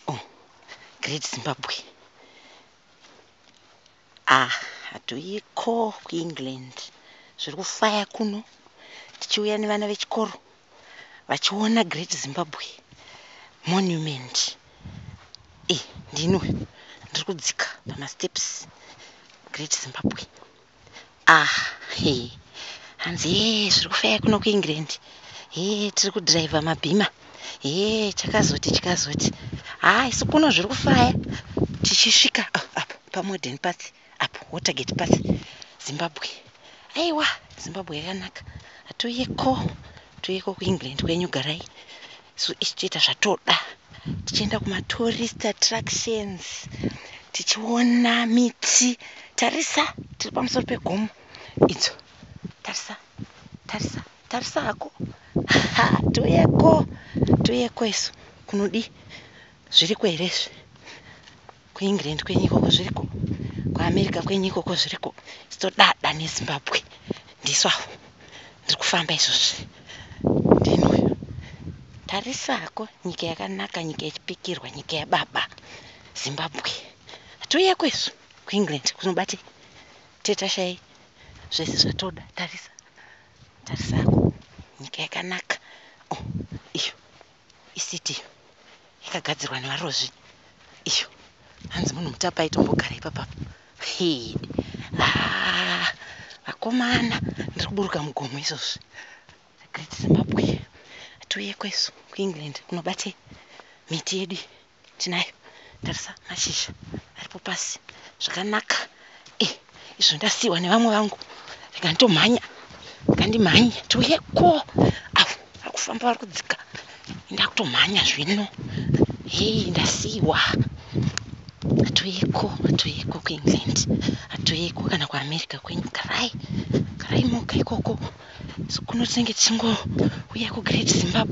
Oh, Great Zimbabwe. Ah, hatoiko kuEngland. Zviri kufaya kuno tichiuya nevana vechikoro vachiona Great Zimbabwe Monument. Eh, ndinwe ndiri kudzika pamasteps Great Zimbabwe. Ah, he. Hanzi hee zviri kufaya kuno kuEngland. Hee tiri kudhiraivha mabhima. Hee chakazoti chikazoti. Haa isu kuno zviri kufaya. Tichisvika ah, apo paModern Path apo Watergate Path Zimbabwe. Aiwa Zimbabwe yakanaka. Hatiuyeko. Tiuyeko kuEngland kwenyu garai. so isu toita zvatoda tichienda kumatourist attractions tichiona miti tarisa tiri pamusoro pegomo idzo tarisa tarisa tarisa hako ha toyeko toyeko isu kunodii zviriko here izvi kuEngland kwenyu ikoko zviriko kuAmerica kwenyu ikoko zviriko chitodada neZimbabwe ndisu avo ndiri kufamba izvozvi ndinuyo tarisako nyika yakanaka nyika yechipikirwa nyika yababa Zimbabwe hatiuye kwesu kuEngland kunobate tetashai zvese zvatoda tarisa tarisako nyika yakanaka oh, iyo Isiti iyo yakagadzirwa nevarozvi iyo hanzi munhu mutape aitombogara ipapa hii ah, vakomana ndiri kuburuka mugomo izvozvi great zimbabwe hatiuye kwesu kuengland kunobate miti yedu Tinayo tarisa mashizha aripo pasi zvakanaka eh izvo ndasiwa nevamwe vangu rega nditomhanya ngandimhanye tiuye ko avo vari kufamba vari kudzika ndakutomhanya zvino hei ndasiwa atoyeko atoyeko kuengland atoyeko kana kuamerica kwenyu garai garai moga ikoko so kuno tinenge tichingouya kugreat zimbabwe